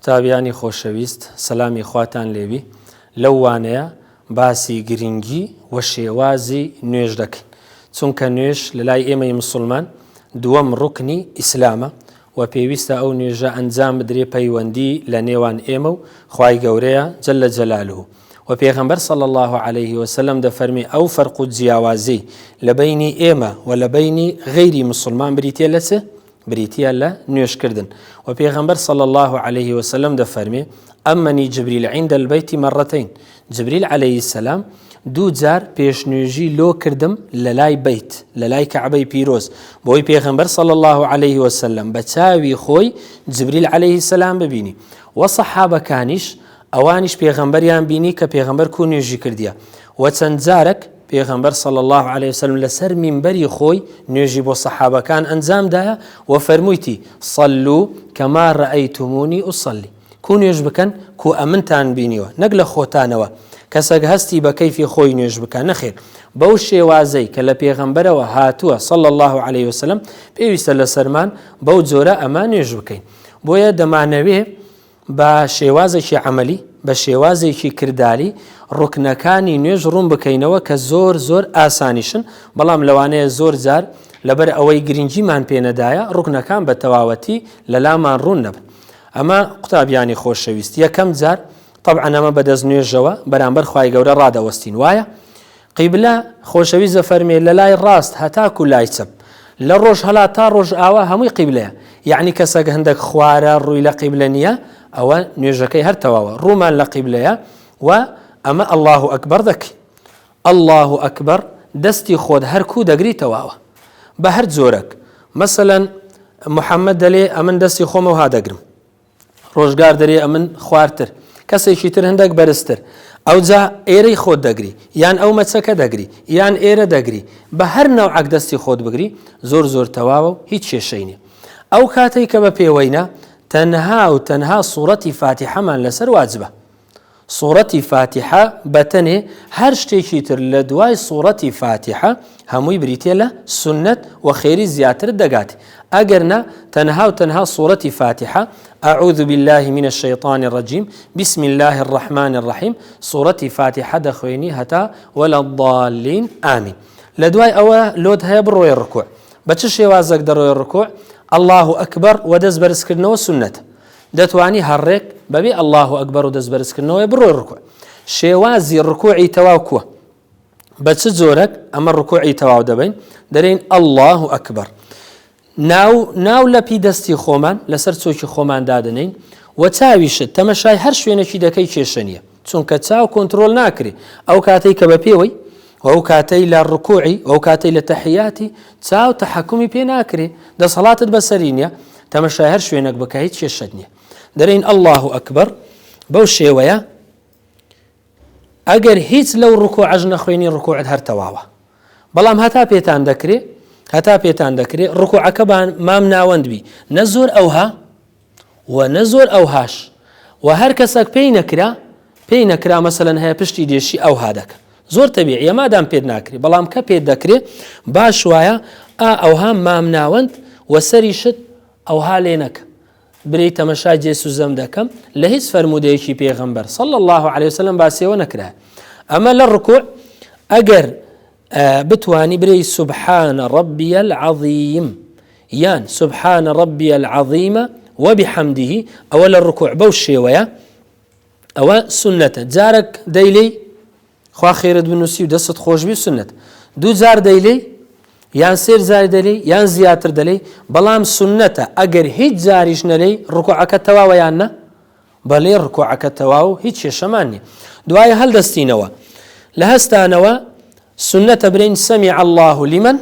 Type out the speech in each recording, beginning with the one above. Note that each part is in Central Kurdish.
قوتابیانی خۆشەویست سەلامی خواتان لێوی لەو وانەیە باسی گرنگی و شێوازی نوێژ دەکەین چونکە نوێش لە لای ئێمەی مسلمان دووەم ڕکنی ئیسلامە و پێویستە ئەو نوێژە ئەنجام بدرێ پەیوەندی لە نێوان ئێمە و خی گەورەیە جل لە جەلالو وە پێغەمبەر صلی اللە علیە وسلم دەفەرمێ ئەو فەرق و جیاوازی لە بەینی ئێمە وە لە بەینی غەیری مسلمان بریتە لە چ؟ بریتە لە نوێشکردن وە پێغەمبەر صلی اللە علیه وسلم دەفەرمێ ئەمەنی جبریل عیندە البەیتی مەڕەتین جبریل عەلەیهی سەلام دوو جار پێشنوێژی لۆ کردم لە لای بیت لە لای کەعبەی پیرۆز بۆی پێغەمبەر سەڵ الله عليه وسلم بە چاوی خۆی جبریل عليه سلام ببینی وە سەحابەکانیش ئەوانیش پێغەمبەریان بینی کە پێغەمبەر کو نوێژی کردیە و چەند جارەک پێغەمبەر صلی الله عليه وسلم لەسەر مینبەری خۆی نوێژی بۆ سەحابەکان ئەنجامدایە و فەرموویتی صلو کەما رأیتمونی ئوصلی کو نوێژ بکەن کو ئەمنتان بینیوە نەک لە خۆتانەوە کەسەک هەستی بە کەیفی خۆی نوێژ بکە نەخێر بەو شێوازەی کە لە پێغەمبەرەوە هاتووە صلى الله عليه وسلم پێویستە لە سەرمان بەو جۆرە ئەمە نوێژ بکەین بۆیە دەمانەوێ بە شێوازێکی عەمەلی، بە شێوازێکی کرداری ڕوکنەکانی نوێژ ڕوون بکەینەوە کە زۆر زۆر ئاسانیشن، بەڵام لەوانەیە زۆر جار لەبەر ئەوەی گرنگیمان پێ نەدایە ڕوکنەکان بە تەواوەتی لەلامان ڕوون نەبن. ئەمە قوتابیانی خۆشەویست یەکەم جار تەبعەن ئەمە بە دەست نوێژەوە بەرامبەر خوای گەورە ڕادەوەستین وایە؟ قیبلە خۆشەویست دەفەرمێ لە لای ڕاست هەتاکو لای چەپ، لە ڕۆژهەلات تا ڕۆژئاوا هەمووی قیبلەیە، یەعنی کەسەک هەندەک خوارە ڕووی لە قیبلە نییە ئەوە نوێژەکەی هەر تەواوە ڕوومان لە قیبلەیە و ئەمە اللە اکبر دەکەین اللە اکبر دەستی خۆت هەر کوو دەگری تەواوە بە هەر جۆرەک مەسەلەن محمد دەلێ ئەمن دەستی خۆم ئەوها دەگرم ڕۆژگار دەرێ ئەمن خوارتر. کەسێکی تر هندەک بەرزتر. ئەوجا ئێرەی خۆت دەگری. یان ئەو مەچەکە دەگری. یان ئێرە دەگری. بە هەر نەوعەک دەستی خۆت بگری، زۆر زۆر تەواوە و هیچ کێشەی نیە. ئەو کاتەی کە بە پێوەینە، تەنها و تەنها سوڕەتی فاتیحەمان لەسەر واجبە. سوڕەتی فاتیحە بەتەنێ هەر شتێکی تر لە دوای سوڕەتی فاتیحە هەمووی بریتیە لە سونەت و خێری زیاترت دەگاتێ ئەگەر نا تەنها و تەنها سوڕەتی فاتیحە اعوذ بالله من الشیطان الرجیم بسم الله الرحمن الرحیم سوڕەتی فاتیحە دەخوێنی هەتا ولا الضالین آمین لە دوای ئەوە لۆت هەیە بڕۆی ڕکوع بە چ شێوازەک دەڕۆی ڕکوع الله اکبر و دەست بەرزکردنەوە سنت دەتوانی هەڕێک بەبێ اللە اکبر و دەست بەرزکردنەوەی بڕۆی ڕکوع شێوازی ڕکوعی تەواو کوە بە چ جۆرەک ئەمە ڕکوعی تەواو دەبین دەرین اللە اکبر ناو ناو لەپی دەستی خۆمان لەسەر چۆکی خۆمان دادنین و چاویشت تەمەشای هەر شوێنێکی دەکەی کێشە نیە چونکە چاو کۆنتترۆل ناکری ئەو کاتێک کە بە پێوەی وەو کاتەی لە ڕکوعی وەو کاتەی لە تەحیاتی چاو تەحەکومی پێ ناکرێ دەسەڵاتت بەسەری نیە تەمەشای هەر شوێنەک بکە هیچ کێشەت نیە دەرین ئەلله و ئەکبەر بەو شێوەیە ئەگەر هیچ لەو ڕکو عەژ نەخوێنی ڕکوعت هەر تەواوە بەڵام هەتا پێتان دەکرێ هەتا پێتان دەکرێ ڕکوعەکەبان مام ناوەندبی نە زۆر ئەوها و نە زۆر ئەوهاش و هەر کەسەک پێی نەکرا پێی نەکرا مەسەلەن هەیە پشتی دێشی ئەوها دەکە زۆر تەبیعیە مادام پێت ناکری بەڵام کە پێت دەکرێ باش وایە ئا ئەوها مام ناوەند و سەری شت ئەوها لێ نەکە بری تەمەشا جێ سوزەم دەکەم لە هیچ فەرمودەیەکی پێغەمبەر صلى الله عليه وسلم باسیەوە نەکرا ئەمە لە ڕکوع ئەگەر بتوانی بلێی سبحان ربی العظیم یان سبحان ربی العظیم وبحمده ئەوە لە ڕکوع بەو شێوەیە ئەوە سنەتە جارەک دەیلی خوا خێرت بنووسی و دەست خۆشبی سنت دوو جار دەیلی یان سێر زار دەلی یان زیاتر دەلی بەڵام سنەتە ئەگەر هیچ جاریش نەلی ڕکوعەکە تەواوەیان نە بەڵی ڕکوعەکە تەواو هیچ کێشەمان نیە دوایە هەلدەستینەوە لە هەستانەوە سنەتە برین سەمی الله لمن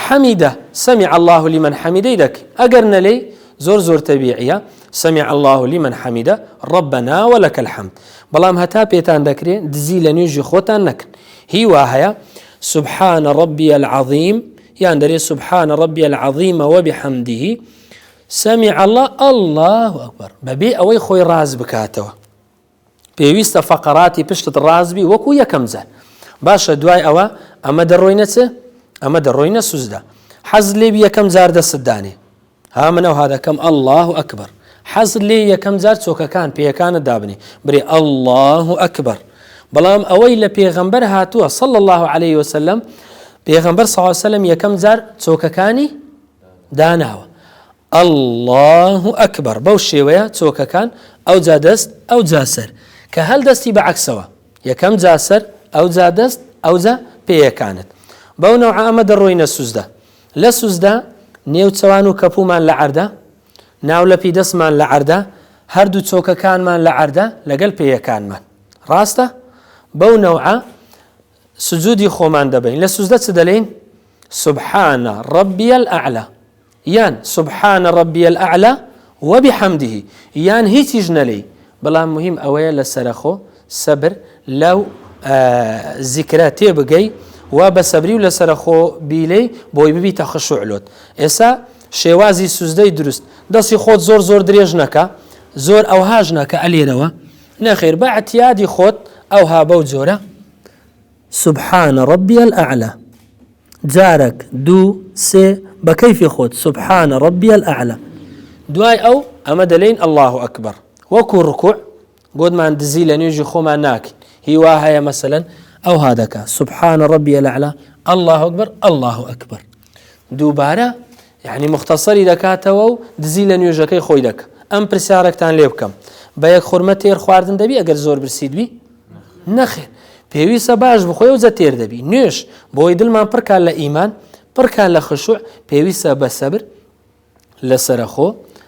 حەمیدە سەمی الله لمن حەمیدەی دەک ئەگەر نەلێی زۆر زۆر تەبیعە سەمی الله لمن حەمیدە ڕبنا و لەکە الحەمد بەڵام هەتا پێتان دەکرێ دزی لە نوێژی خۆتان نەکن هی وا هەیە سبحانە ڕبی العظیم یان دەرێ سبحانە ڕبی العظیمەوە بحەمدیه سمع اللە اللە اکبر بەبێ ئەوەی خۆی ڕاست بکاتەوە پێویستە فەقەراتی پشتت ڕاست بی وەکو یەکەم جار باشە دوای ئەوە ئەمە دەڕۆینە چ ئەمە دەڕۆینە سوزدا حەز لێ یەکەم جار دەستدانێ ها من ئەوها دەکەم ئەله و ئەکبەر حەز لێ یەکەم جار چۆکەکان پێیەکانە دابنی برێ ئەله و ئەکبەر بەڵام ئەوەی لە پێغەمبەر هاتووە سەڵ الله عليه وسلم پێغەمبەر ساوسلم یەکەم جار چۆکەکانی داناوە اللە اکبر بەو شێوەیە چۆکەکان ئەوجا دەست ئەوجا سەر کە هەل دەستی بە عەکسەوە یەکەم جا سەر ئەوجا دەست ئەوجا پێیەکانت بەو نەوعە ئەمە دەڕۆینە سوزدە لە سوزدە نێو چەوان و کەپومان لە عەردە ناو لە پیدەستمان لە عەردە هەردوو چۆکەکانمان لە عەردە لەگەل پێیەکانمان ڕاستە بەو نەوعە سجودی خۆمان دەبەین لە سوزدە چ دەلین سبحانە ڕبیە ئەعلا یان سبحانە ڕبیە ئەعلا وەبی حەمدیهی یان هیچیش نەلی بەڵام مهم ئەوەیە لە سەرخۆ سەبر لەو زیکرە تێ بگەی و بە سەبری و لە سەرخۆ بیلەی بۆی ببی تەخشعلۆت ئێسا شێوازی سوزدەی دروست دەستی خۆت زۆر زۆر درێژ نەکە زۆر ئەوهاژ نەکە ئەلێرەوە نەخێر بە ئعتیادی خۆت ئەوها بەو جۆرە. سبحان ربی الاعلی جارەک دوو سێ بە کەیفی خۆت سبحان ربی الاعلی. دوای ئەو ئەمە دەلێین اللە اکبر وەکو رکوع گۆتمان دزی لە نوێژی خۆمان ناکەین هی وا هەیە مەسەلەن ئەوها دەکا سبحان ربی الاعلی اللە اکبر اللە اکبر دووبارە یەعنی موختەسەری دەکاتەوە و دزی لە نوێژەکەی خۆی دەکا. ئەم پرسیارەکتان لێ بکەم، بە یەک خورمە تێر خواردن دەبی ئەگەر زۆر برسیت بی؟ نەخێر. پێویستە باش بخۆی و جە تێر دەبی. نوێژ، بۆ ئەوەی دلمان پڕ کا لە ئیمان، پڕ کا لە خشوع، پێویستە بە سەبر، لە سەرەخۆ،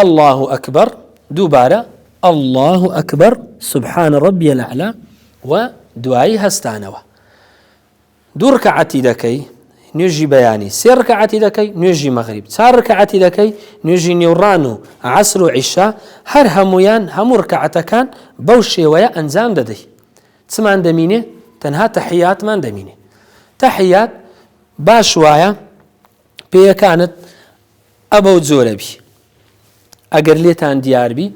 اللە اکبر دووبارە اللە اکبر سبحان ربی الاعلی و دوایی هەستانەوە دوو رکعتی دەکەی نوێژی بەیانی سێ ڕکەعاتی دەکەی نوێژی مەغریب چار ڕکەعاتی دەکەی نوێژی نێوڕان و عسر و عیشا هەر هەمویان هەموو ڕکەعەتەکان بەو شێوەیە ئەنجام دەدەی چمان دەمینێ تەنها تەحیاتمان دەمینێ تەحیات باش وایە پێیەکانت ئە بەو جۆرە بی ئەگەر لێتان دیار بی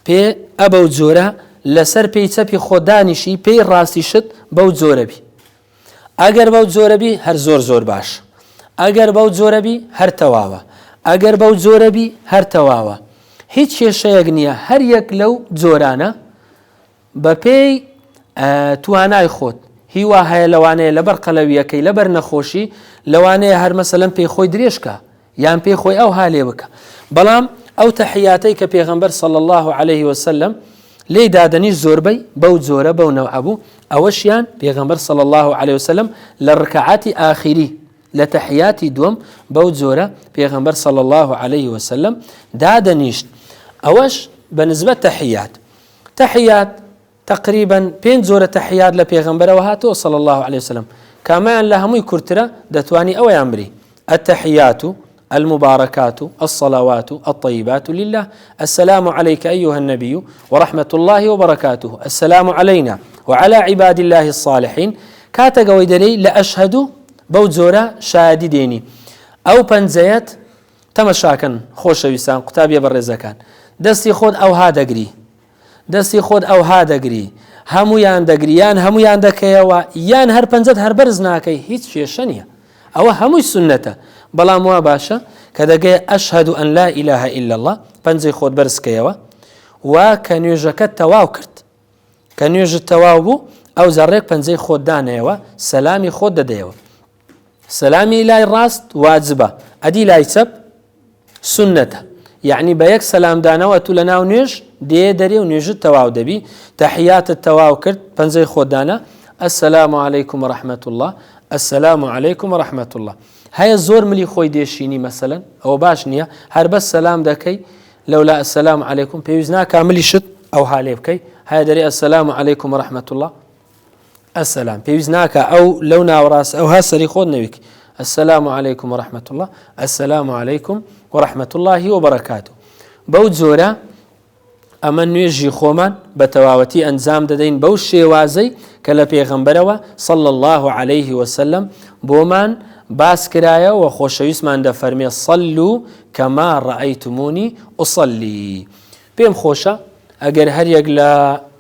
پێ ئە بەو جۆرە لەسەر پێی چەپی خۆ دانیشی پێی ڕاستی شت بەو جۆرە بی ئەگەر بەو جۆرە بی هەر زۆر زۆر باش ئەگەر بەو جۆرە بی هەر تەواوە ئەگەر بەو جۆرە بی هەر تەواوە هیچ کێشەیەک نییە هەر یەک لەو جۆرانە بەپێی توانای خۆت هی وا هەیە لەوانەیە لەبەر قەلەویەکەی لەبەر نەخۆشی لەوانەیە هەر مەسەلەن پێی خۆی درێژکە یان پێی خۆی ئەو هالێ بکە بەڵام ئەو تەحیاتەی کە پێغەمبەر سەڵ الله عليه وسلم لی دادەنیش زۆربەی بەو جۆرە بەو نەوعبوو ئەوەشیان پێغەمبەر سەڵ الله عليه وسلم لە ڕکعاتی ئاخیری لە تەحیاتی دوم بەو جۆرە پێغەمبەر سەڵ الله عليه وسلم دادەنیشت ئەوەش بە نزبەت تەحیات تەحیات، تەقریبا پێنج جۆرە تەحیات لە پێغەمبەرەوە هاتووە صلی اللە علیە وسلم، کامەیان لە هەمووی کورتترە دەتوانی ئەویان بری، التحیات المبارکات الصلوات الطیبات للە، السلام علیک ایها النبی ورحمة اللە وبرکاته، السلام علینا وعلی عباد اللە الصالحین، کاتەک ئەوەی دەلێی لە اشهد بەو جۆرە شایەدی دێنی، ئەو پەنجەیەت، تەمەشاکەن خۆشەویستان قوتابیە بەڕێزەکان دەستی خۆت ئەوها دەگری دەستی خۆت ئەوها دەگری هەمویان دەگری یان هەمویان دەکەیەوە یان هەر پەنجەت هەر بەرز ناکەی هیچ کێشە نیە ئەوە هەمووی سنەتە بەڵام وا باشە کە دەگەی ئەشهد و ئەن لا ئیلاهە ئیلا الله پەنجەی خۆت بەرزکەیەوە و کە نوێژەکە تەواو کرد کە نوێژت تەواو بوو ئەو زەڕێک پەنجەی خۆت دانەیەوە سەلامی خۆت دەدەیەوە سەلامی لای ڕاست واجبە ئەدی لای چەپ سونەتە یعنی بە یەک سەلامدانەوە تو لە ناو نوێژ دێ دەرێ و نوێژت تەواو دەبی تەحیاتت تەواو کرد پەنجەی خۆدانە السلام عليكم ورحمة الله السلام عليكم ورحمة الله هەیە زۆر ملی خۆی دێشینی مەسەن ئەوە باش نییە هەر بەس سەسلام دەکەی لەولا ئەسلام عیکم پێویست ناکاملی شت ئەو حالێ بکەی هەیە دەری ئەسلام عیکم ورحمة الله السلام پێویست ناکە ئەو لەو ناوەڕاست ئەو هە سەری خۆت نەویک السلام علیکم و رحمت الله السلام علیکم و رحمت اللهی و بەڕکات و بەو جۆرە ئەمە نوێژی خۆمان بە تەواوەتی ئەنجام دەدەین بەو شێوازەی کە لە پێغەمبەرەوە سەڵ الله عليه وسلم بۆمان باس کرایە و خۆشەویستمان دەفەرمێ سەل و کەما ڕائیتمونی ئوسەلی پێم خۆشە ئەگەر هەریەک لە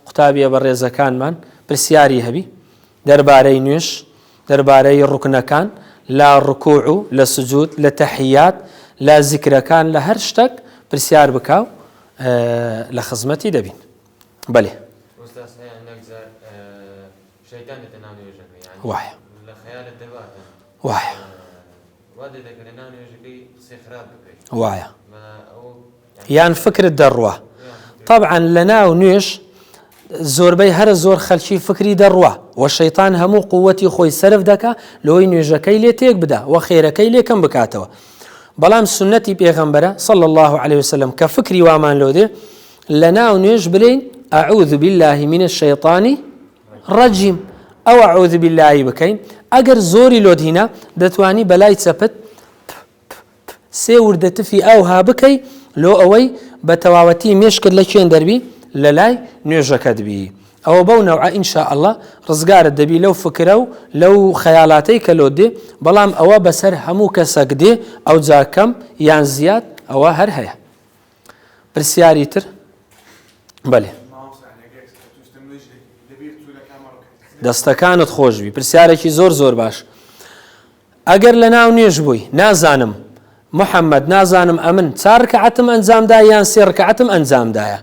قوتابیە بەڕێزەکانمان پرسیاری هەبی دەربارەی نوێژ دەربارەی ڕوکنەکان لە ڕکوع و لە سجود لە تەحیات لە زیکرەکان لە هەر شتەک پرسیار بکاو لە خزمەتی دەبین بەێ وایە وایە وایە یان فکرت دەڕوا طبعاان لە ناو نوێش زۆربەی هەرە زۆر خەلکی فکری دەڕوا و شەیتان هەموو قوتی خۆی سرف دەکە لەوەی نوێژەکەی لێ تێک بدا و خێرەکەی لێکم بکاتەوە بەڵام سنەتی پێغەمبەرە صل الله عليه وسلم کە فکری وامان لۆ دێ لە ناو نوێژ بلین ئەعوذ بالله من الشیطانی ڕەجیم ئەو عەوزی بیللایی بکەین ئەگەر زۆری لۆت هینا دەتوانی بەلای چەپت پ پ پ سێ وردە تفی ئاو ها بکەی لۆ ئەوەی بە تەواوەتی مێشکت لە کێن دەربی لەلای نوێژەکەت بی ئەوە بەو نەوعە ان شاء اللە ڕزگارت دەبی لەو فکرە و لەو خەیالاتەی کە لۆت دێ بەڵام ئەوە بەسەر هەموو کەسەک دێ ئەوجا کەم یان زیاد ئەوە هەر هەیە. پرسیاری تر بەێ دەستەکانت خۆشبی پرسیارێکی زۆر زۆر باش ئەگەر لە ناو نوێژ بووی نازانم محەممەد نازانم ئەمن چارکەعتم ئەنجامدا یان سێڕکەعتم ئەنجامدایە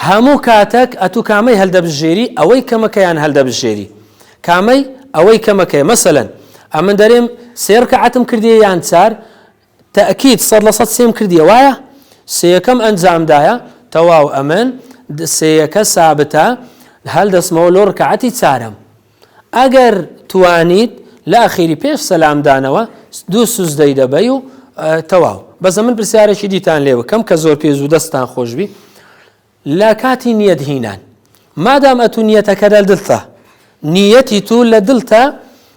هەموو کاتەک ئەتو کامەی هەلدەبژێری ئەوەی کەمەکەیان هەلدەبژێری کامەی ئەوەی کەمەکەی مەسەن ئەمن دەرێم سێڕکەعتم کردی یان چار تەئکید سەد لە سەد سێم کردیە وایە؟ سێیەکەم ئەنجامدایە تەواو ئەمن سێیەکە سابتە هەل دەچمەوە لۆ رکعەتی چارەم ئەگەر توانیت لە ئەخیری پێش سەلام دانەوە دوو سوزدەی دەبەی و تەواو بەس ئەمن پرسیارێکی دیتان لێ بکەم کە زۆر پێ زوو دەستان خۆشبی لە کاتی نیەت هینان مادام ئەتوو نیەتەکە لە دلتە نیەتی تو لە دلتە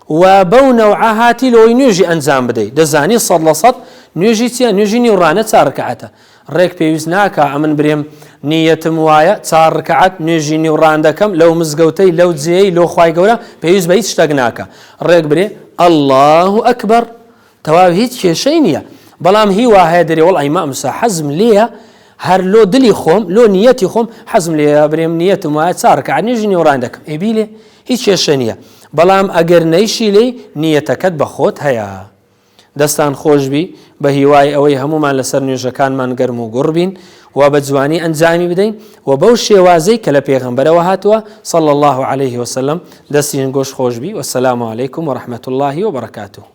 و بەو نەوعە هاتی لەوەی نوێژی ئەنجام بدەیت دەزانی سەد لە سەد نوێژی چیە نوێژی نیوڕانە چارکەعەتە ڕێک پێویست ناکە ئەمن برێم نیەتم وایە چار ڕکعات نوێژی نیوڕان دەکەم لەو مزگەوتەی لەو جێی لۆ خی گەورە پێویست بە هیچ شتەک ناکە ڕێک برێ ئەله ئەکبەر تەواو هیچ کێشەی نیە بەڵام هی واهەیە دەرێ وەڵ ئەیمامسا حەزم لێە هەر لۆ دلی خۆم لۆ نیەتی خۆم حەزم لێ برێم نیەتم وایە چارکە نێژی نێوڕان دەکەم ئەبی لێ هیچ کێشە نیە بەڵام ئەگەر نەیشی لی نیەتەکەت بە خۆت هەیە دەستان خۆشببی بە هیوای ئەوەی هەمومان لەسەر نوێژەکانمان گەرم و گوڕبین و بە جوانی ئەنجامی بدەین و بەو شێوازەی کە لە پێغمبەرەوە هاتووە صل الله عليه وسلم دەستین گۆش خۆشببی وسلام عیکم و رحمت اللهی و بەرکاتوو